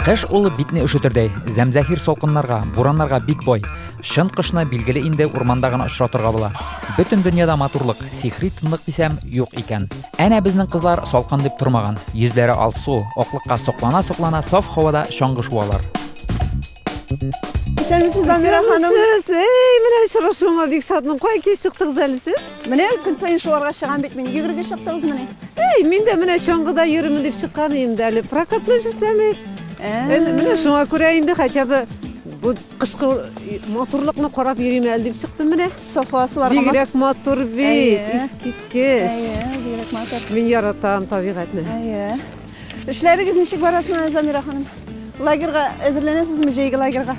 Кыш ул битне өшетердәй, зәмзәхир салкыннарга, бураннарга бик бай. Чын кышны билгеле инде урманда гына очратырга була. Бөтен дөньяда матурлык, сихри тынлык дисәм, юк икән. Әнә безнең кызлар салкын дип тормаган. Йөзләре алсу, аклыкка соклана-соклана саф һавада чаңгы шуалар. Исәнмесез, Замира ханым. Исәнмесез. Эй, менә очрашуыма бик шатмын. Кая килеп чыктыгыз әле сез? Менә көн саен шуларга чыгам бит мин. Йөгерергә чыктыгызмыни? Әй, мин дә менә чаңгыда йөрермен дип чыккан идем дә әле. Прокатны эшләмик. Ә, менә шуңа күрә инде хотя бы бу кышкы матурлыкны карап йөрим әле дип чыктым менә. Софа суларга. Бигрәк матур бит, искиткеч. Әйе, бигрәк матур. Мин яратам табигатьне. Әйе. Эшләрегез ничек бара соң, Замира ханым? Лагерга әзерләнәсезме, җәйге лагерга?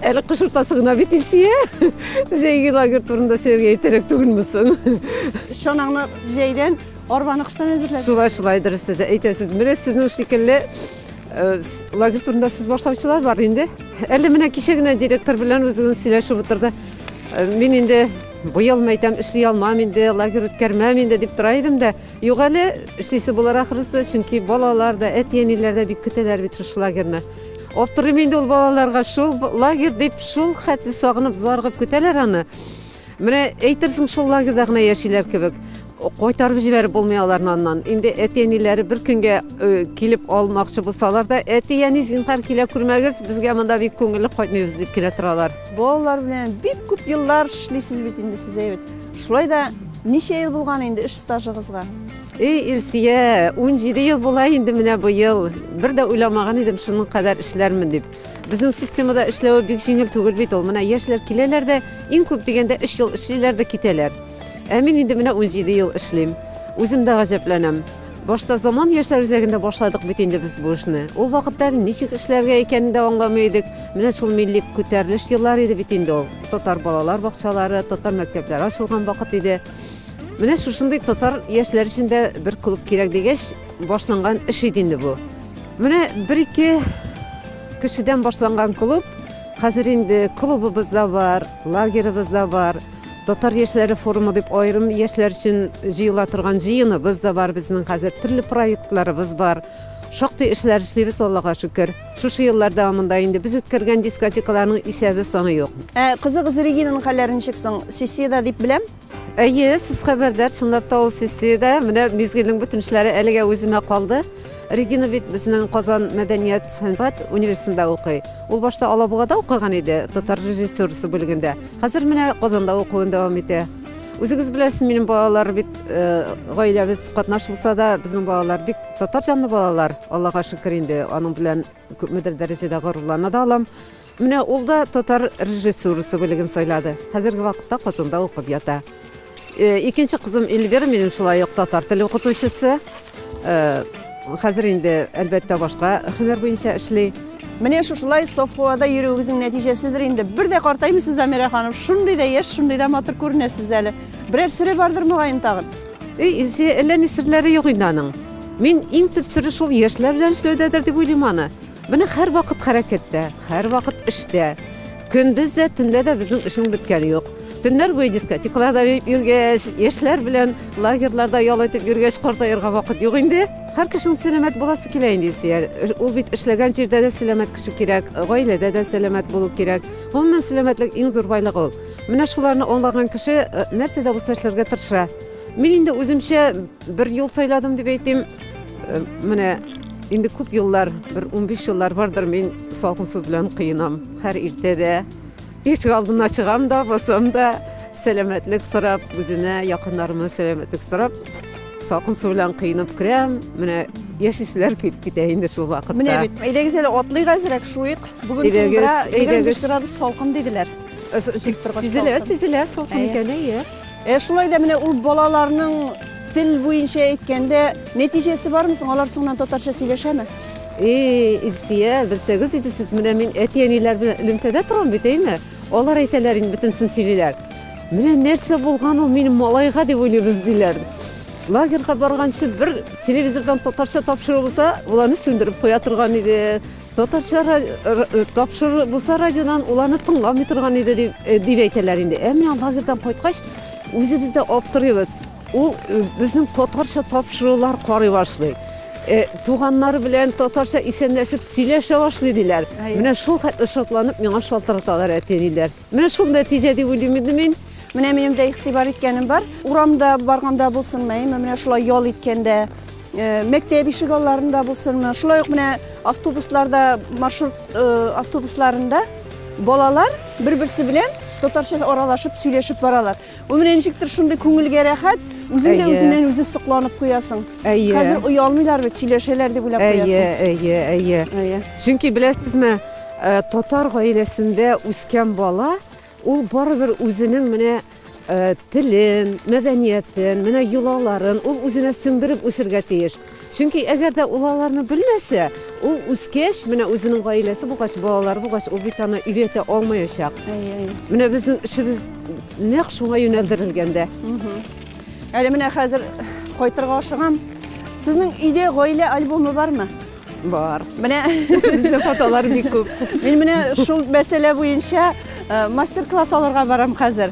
Әле кыш уртасы гына бит Илсия. Җәйге лагерь турында сезгә әйтәрәк түгелме соң? Чанаңны җәйдән, арбаны кыштан әзерләдегез. Шулай, шулай дөрес сез әйтәсез. Менә сезнең шикелле э, с- лагерь турында сүз башлаучылар бар инде. Әле менә кичә генә директор белән үзегез сөйләшеп утырды. Э, Мин инде быел мәйтәм эшли алмам инде, лагерь үткәрмәм инде дип тора идем дә, Юк әле, эшлисе булыр ахрысы, чөнки балалар да, әти-әниләр дә бик көтәләр бит шушы лагерьны. Аптырыйм инде ул балаларга, шул лагерь дип шул хәтле сагынып, зарыгып көтәләр аны. Менә әйтерсең шул лагерьда гына яшиләр кебек. Кайтарып җибәреп булмый аларны аннан. Инде әти-әниләре бер көнгә э, килеп алмакчы булсалар да, әти-әни зинһар килә күрмәгез, безгә монда бик күңелле кайтмыйбыз дип килә торалар. Балалар белән бик күп еллар эшлисез бит инде сез әйбәт. Шулай да ничә ел булган инде эш стажыгызга? Эй, Илсия, 17 ел була инде менә быел. Бер дә уйламаган идем шуның кадәр эшләрмен дип. Безнең системада эшләве бик җиңел түгел бит ул. Менә яшьләр киләләр дә, иң күп дигәндә 3 ел эшлиләр дә китәләр. Ә мин инде менә 17 ел эшлим. Үзем дә гаҗәпләнәм. Башта Заман яшьләр үзәгендә башладык бит инде без бу эшне. Ул вакытта ничек эшләргә икәнен дә аңламый идек. Менә шул милли күтәрелеш еллары иде бит инде ул. Татар балалар бакчалары, татар мәктәпләре ачылган вакыт иде. Менә шушындый татар яшьләр өчен дә бер клуб кирәк дигәч, башланган эш иде инде бу. Менә бер-ике кешедән башланган клуб хәзер инде клубыбыз да бар, лагерыбыз да бар. Татар яшьләре форумы дип аерым яшьләр өчен җыела торган җыеныбыз да бар безнең хәзер, төрле проектларыбыз бар. Шактый эшләр эшлибез, Аллага шөкер. Шушы еллар дәвамында инде без үткәргән дискотекаларның исәбе саны юк. Ә кызыгыз Регинаның хәлләре ничек соң? Сессиядә дип беләм. Әйе, сез хәбәрдар, чынлап та ул сессиядә. Менә мизгелнең бөтен эшләре әлегә үземә калды. Регина бит безнең Казан мәдәният сәнгать университетында укый. Ул башта Алабугада укыган иде, татар режиссерысы бүлегендә. Хәзер менә Казанда укуын дәвам итә. Үзегез беләсез, минем балалар бит э, гаиләбез катнаш булса да, безнең балалар бик татар җанлы балалар. Аллага шөкер инде, аның белән Күпмедер дәрәҗәдә горурлана да алам. Менә ул да татар режиссурасы бүлеген сайлады. Хәзерге вакытта Казанда укып ята. Э, икенче кызым Эльвира минем шулай ук татар теле укытучысы. Э, хәзер инде әлбәттә башка һөнәр буенча эшли. Менә шушылай саф һавада йөрүегезнең нәтиҗәседер инде. Бер дә картаймыйсыз, Замира ханым. Шундый да яшь, шундый да матур күренәсез әле. Берәр сере бардыр мөгаен тагын. Өй исе, әллә ни серләре юк инде аның. Мин иң төп сере шул яшьләр белән эшләүдәдер дип уйлыйм аны. Менә һәрвакыт хәрәкәттә, һәрвакыт эштә. Көндез дә, төнлә дә безнең эшнең беткәне юк. Төннәр буе дискотекаларда йөргәч, яшьләр белән лагерьларда ял итеп йөргәч, картаерга вакыт юк инде. Һәр кешенең сәламәт буласы килә инде, Илсөяр. Ул бит эшләгән җирдә дә сәламәт кеше кирәк, гаиләдә дә сәламәт булу кирәк. Гомумән, сәламәтлек иң зур байлык ул. Менә шуларны аңлаган кеше э, нәрсә дә булса эшләргә тырыша. Мин инде үземчә бер юл сайладым дип әйтим. Э, менә инде күп еллар, бер 15 еллар бардыр мин салкын су белән кыенам. Һәр иртәдә ишек алдына чыгам да, басам да, сәламәтлек сорап, үземә, якыннарыма сәламәтлек сорап, салкын су белән кыенып керәм. Менә яшисләр килеп китә инде шул вакытта. Менә бит, әйдәгез әле атлыйк әзрәк, шуыйк. Бүген Әйдәгез, 25 градус салкын диделәр. Сизелә, сизелә, салкын икән, әйе. Ә шулай да менә ул балаларның тел буенча әйткәндә нәтиҗәсе бармы соң? Алар соңыннан татарча сөйләшәме? Эй, Илсия, белсәгез иде сез, менә мин әти-әниләр белән элемтәдә торам бит, әйме? Алар әйтәләр инде бөтенсен сөйлиләр. Менә нәрсә булган ул минем малайга дип уйлыйбыз диләр. Лагерьга барганчы бер телевизордан татарча тапшыру булса, боларны сүндереп куя торган иде. Татарча тапшыру булса радиодан, ул аны тыңламый торган иде дип әйтәләр инде. Ә менә лагерьдан кайткач, үзебез дә аптырыйбыз. Ул безнең татарча тапшырулар карый башлый. Э, туганнары белән татарча исәнләшеп сөйләшә башлый диләр. Менә шул хәтле шатланып миңа шалтыраталар әти-әниләр. Менә шул нәтиҗә дип уйлыйм инде мин. Менә минем дә игътибар иткәнем бар. Урамда барганда булсынмы, әйме, менә шулай ял иткәндә, э, мәктәп ишек алларында булсынмы, шулай ук менә автобусларда, маршрут э, автобусларында балалар бер-берсе белән татарча аралашып сөйләшеп баралар. Ул менә ничектер шундый күңелгә рәхәт, үзең дә Әйе. үзеннән үзе сокланып куясың. Әйе. Хәзер оялмыйлар бит, сөйләшәләр дип уйлап Әйе, куясың. әйе, әйе. Әйе. Чөнки беләсезме, э, татар гаиләсендә үскән бала, ул барыбер үзенең менә э, телен, мәдәниятен, менә йолаларын ул үзенә сеңдереп үсергә тиеш. Чөнки әгәр дә ул аларны белмәсә, ул үскәч, менә үзенең гаиләсе булгач, балалары булгач, ул бит аны өйрәтә алмаячак. Менә безнең эшебез нәкъ шуңа юнәлдерелгән дә. Әле менә хәзер кайтырга ашыгам. Сезнең өйдә гаилә альбомы бармы? Бар. Менә безнең фотолар бик күп. Мин менә шул мәсьәлә буенча мастер-класс алырга барам хәзер.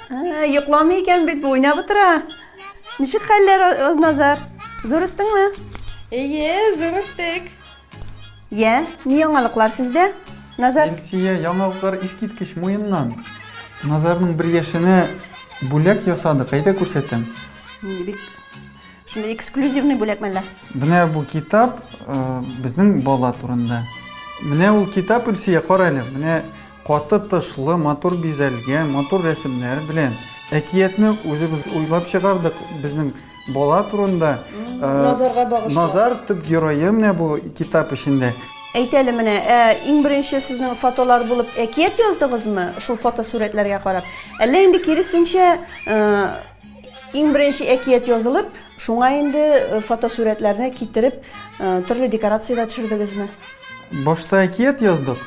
Йокламый икән бит, уйнап утыра. Ничек хәлләр, Назар? Зур үстеңме? Әйе, зур үстек. Йә, ни яңалыклар сездә? Назар. Илсия, яңалыклар искиткеч муеннан. Назарның бер яшенә бүләк ясадык, әйдә күрсәтәм. Бик Шундый эксклюзивный бүләк мәллә? Менә бу китап э, безнең бала турында. Менә ул китап Ильсия, кара әле. Менә каты тышлы, матур бизәлгән, матур рәсемнәр белән. Әкиятне үзебез уйлап чыгардык безнең бала турында. Э, Назарга багышлап. Назар төп герое менә бу китап эчендә. Әйт әле менә, ә, иң беренче сезнең фотолар булып әкият яздыгызмы? Шул фотосурәтләргә карап. Әллә инде киресенчә, э, Иң беренче әкият язылып, шуңа инде фотосурәтләрне китереп, төрле декорацияләр төшердегезме? Башта әкият яздык,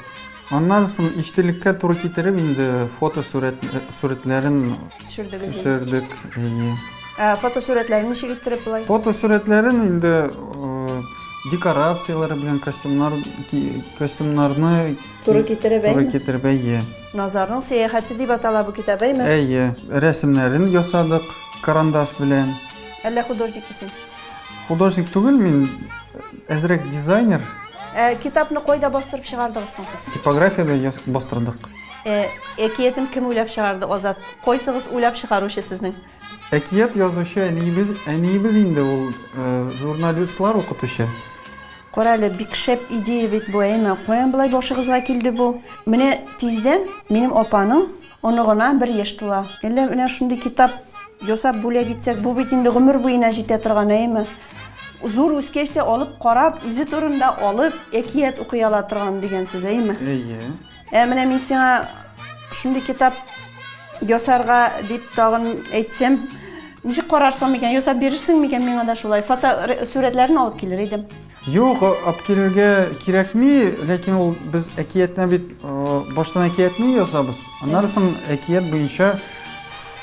аннан соң иҗтилеккә туры китереп инде фотосурәт сурәтләрен төшердегез. Төшердек. Ә фотосурәтләрен ничек иттереп болай? Фотосурәтләрен инде декорацияләре белән костюмнар костюмнарны туры китереп, туры китереп, әйе. Назарның сәяхәте дип атала бу китап, әйме? Әйе, рәсемнәрен ясадык карандаш белән. Әллә художник мисең? Художник түгел мин, әзрәк дизайнер. Ә, китапны кайда бастырып чыгардыгыз соң сез? Типографиядә бастырдык. Ә, әкиятен кем уйлап чыгарды, Азат? Кайсыгыз уйлап чыгаручы сезнең? Әкият язучы әниебез, әниебез инде ул журналистлар укытучы. Карале, бик шәп идея бит бу, әйме? Каян болай башыгызга килде бу? Менә тиздән минем апаның оныгына бер яшь тула. Әллә менә шундый китап ясап бүләк итсәк, бу бит инде гомер буена җитә торган, әйме? Зур үскәч тә алып карап, үзе турында алып, әкият укый ала торган дигән сүз, әйме? Әйе. Ә менә мин сиңа шундый китап ясарга дип тагын әйтсәм, ничек карарсың микән? Ясап бирерсең микән миңа да шулай? Фото сурәтләрен алып килер идем. Юк, алып килергә кирәкми, ләкин ул без әкиятне бит баштан әкиятне язабыз. Аннары соң әкият буенча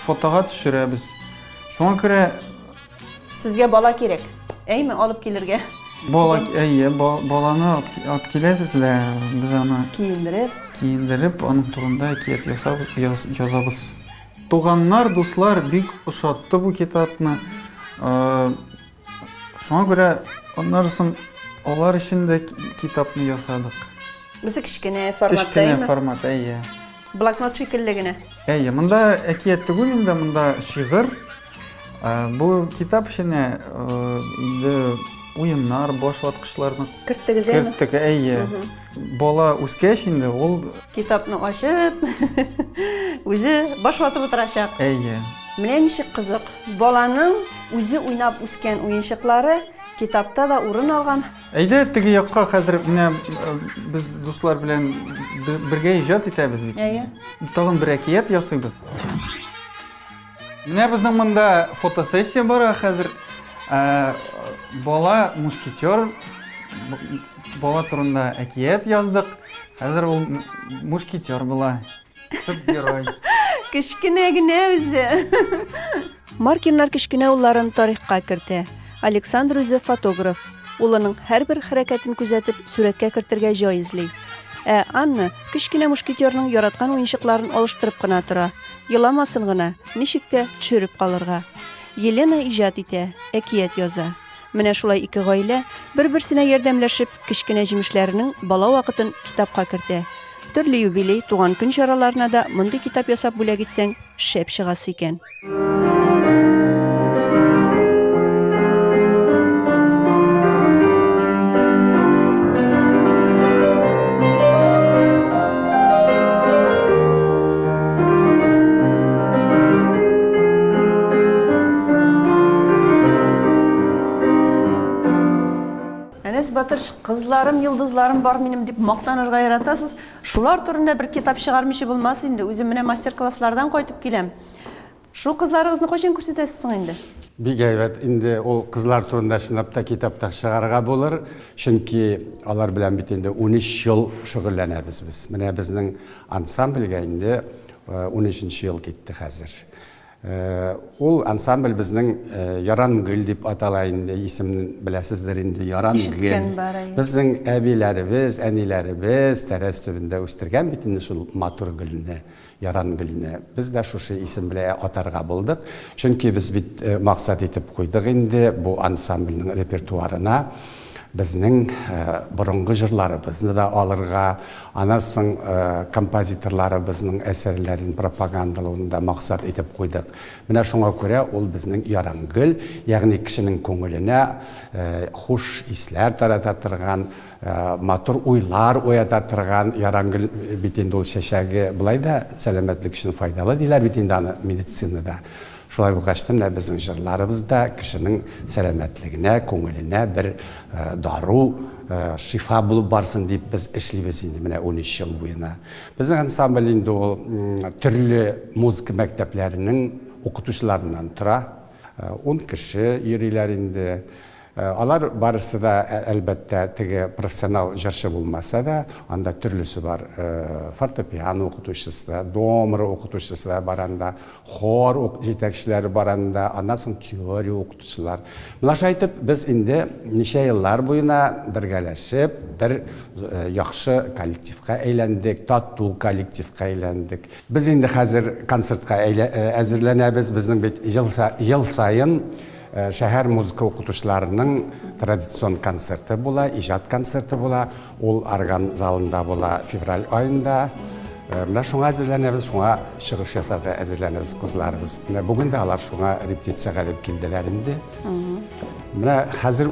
фотога төшерәбез. Шуңа күрә Сезгә бала кирәк, әйме, алып килергә? Бала, әйе, баланы алып киләсез дә, без аны... Киендереп. Киендереп, аның турында әкият ясап, язабыз. Туганнар, дуслар бик ошатты бу китапны. Шуңа күрә аннарысын алар өчен дә китапны ясадык. Бусы кечкенә форматта, әйме? Кечкенә формат, әйе. Блокнот шикелле генә. Әйе, монда әкият түгел инде, монда шигырь. Бу китап эченә инде уеннар, баш ваткычларны керттегез, әйеме? Керттек, әйе. Бала үскәч инде ул китапны ачып, үзе баш ватып утырачак. Әйе. Менә ничек кызык. Баланың үзе уйнап үскән уенчыклары китапта да урын алган. Әйдә теге якка хәзер менә без дуслар белән бергә иҗат итәбез бит. Әйе. Тагын бер әкият ясыйбыз. Менә безнең монда фотосессия бара хәзер. Ә, бала мушкетер бала турында әкият яздык. Хәзер ул мушкетер була. Төп герой. Кечкенә генә үзе. Маркиннар кечкенә улларын тарихка кертә. Александр үзе фотограф. Улының һәрбер хәрәкәтен күзәтеп, сурәткә кертергә җай эзли. Ә Анна кечкенә мушкетерның яраткан уенчыкларын алыштырып кына тора. Еламасын гына, ничек тә төшереп калырга. Елена иҗат итә, әкият яза. Менә шулай ике гаилә, бер-берсенә ярдәмләшеп, кечкенә җимешләренең бала вакытын китапка кертә. Төрле юбилей, туган көн чараларына да мондый китап ясап бүләк итсәң, шәп чыгасы икән. Әнәс батыр кызларым, йолдызларым бар минем дип мактанырга яратасыз. Шулар турында бер китап чыгармыйча булмас инде. Үзем менә мастер-класслардан кайтып киләм. Шул кызларыгызны кайчан күрсәтәсез соң инде? Бик әйбәт, инде ул кызлар турында чынлап та китап та чыгарырга булыр, чөнки алар белән бит инде унөч ел шөгыльләнәбез без. Менә безнең ансамбльгә инде унөченче ел китте хәзер. Ул ансамбль безнең Ярангөл дип атала инде, исемен беләсездер инде, Ярангөл. Ишеткән бар, әйе. Безнең әбиләребез, әниләребез тәрәз төбендә үстергән бит инде шул матур гөлне. Ярангөлне без дә шушы исем беләэ атарга булдык, чөнки без бит максат итеп куйдык инде бу ансамбльнең репертуарына безнең борынгы җырларыбызны да алырга, аннан соң композиторларыбызның әсәрләрен пропагандалауны да максат итеп куйдык. Менә шуңа күрә ул безнең Ярангөл, ягъни кешенең күңеленә хуш исләр тарата торган, Матур уйлар уята торган ярангөл бит инде ул чәчәге. Болай да сәламәтлек өчен файдалы диләр бит инде аны медицинада. Шулай булгач та менә безнең җырларыбыз да кешенең сәламәтлегенә, күңеленә бер дару, шифа булып барсын дип без эшлибез инде менә унөч ел буена. Безнең ансамбль инде ул төрле музыка мәктәпләренең укытучыларыннан тора. Ун кеше йөриләр инде. Алар барысы да, әлбәттә, теге профессионал җырчы булмаса да, анда төрлесе бар. Фортепиано укытучысы да, домра укытучысы да бар анда, хор җитәкчеләре бар анда, аннан соң теория укытучылар. Моңарчы әйтеп, без инде ничә еллар буена бергәләшеп, бер яхшы коллективка әйләндек, тату коллективка әйләндек. Без инде хәзер концертка әзерләнәбез, безнең бит ел саен. Э, шәһәр музыка укытучыларының традицион концерты була, иҗат концерты була. Ул орган залында була февраль айында. Э, менә шуңа әзерләнәбез, шуңа чыгыш ясарга әзерләнәбез кызларыбыз. Менә бүген дә алар шуңа репетициягә дип килделәр инде. Менә хәзер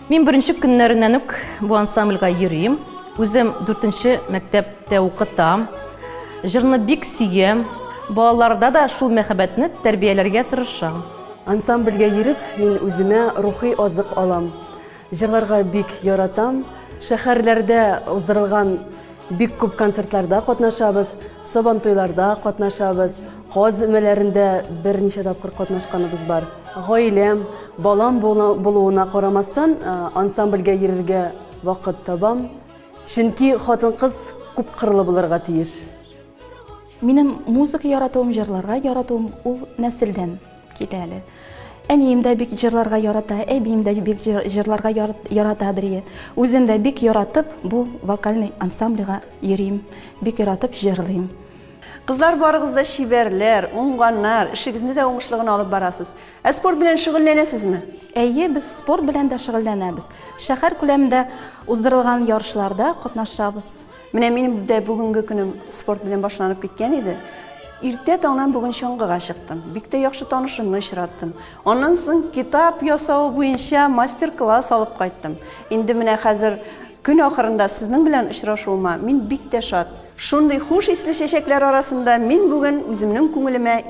Мин беренче көннәреннән үк бу ансамбльгә йөрим. Үзем дүртенче мәктәптә укытам. Җырны бик сөям. Балаларда да шул мәхәббәтне тәрбияләргә тырышам. Ансамбльгә йөреп, мин үземә рухи азык алам. Җырларга бик яратам. Шәһәрләрдә уздырылган Бик күп концертларда катнашабыз, Сабантуйларда катнашабыз, каз өмәләрендә берничә тапкыр катнашканыбыз бар. Гаиләм, балам булуына карамастан, ансамбльгә йөрергә вакыт табам. Чөнки хатын-кыз күп кырлы булырга тиеш. Минем музыка яратуым, җырларга яратуым ул нәселдән. Кит әле. Әнием дә бик җырларга ярата, әбием дә бик җырларга ярата бирие. Үзем дә бик яратып бу вокальный ансамбльга йөрим, бик яратып җырлыйм. Кызлар барыгыз да чибәрләр, уңганнар, эшегезне дә уңышлы гына алып барасыз. Ә спорт белән шөгыльләнәсезме? Әйе, без спорт белән дә шөгыльләнәбез. Шәһәр күләмендә уздырылган ярышларда катнашабыз. Менә минем дә бүгенге көнем спорт белән башланып киткән иде. Иртә таңнан бүген чаңгыга чыктым. Бик тә яхшы танышымны очраттым. Аннан соң китап ясау буенча мастер-класс алып кайттым. Инде менә хәзер көн ахырында сезнең белән очрашуыма мин бик тә шат. Шундый хуш исле чәчәкләр арасында мин бүген үземнең күңелемә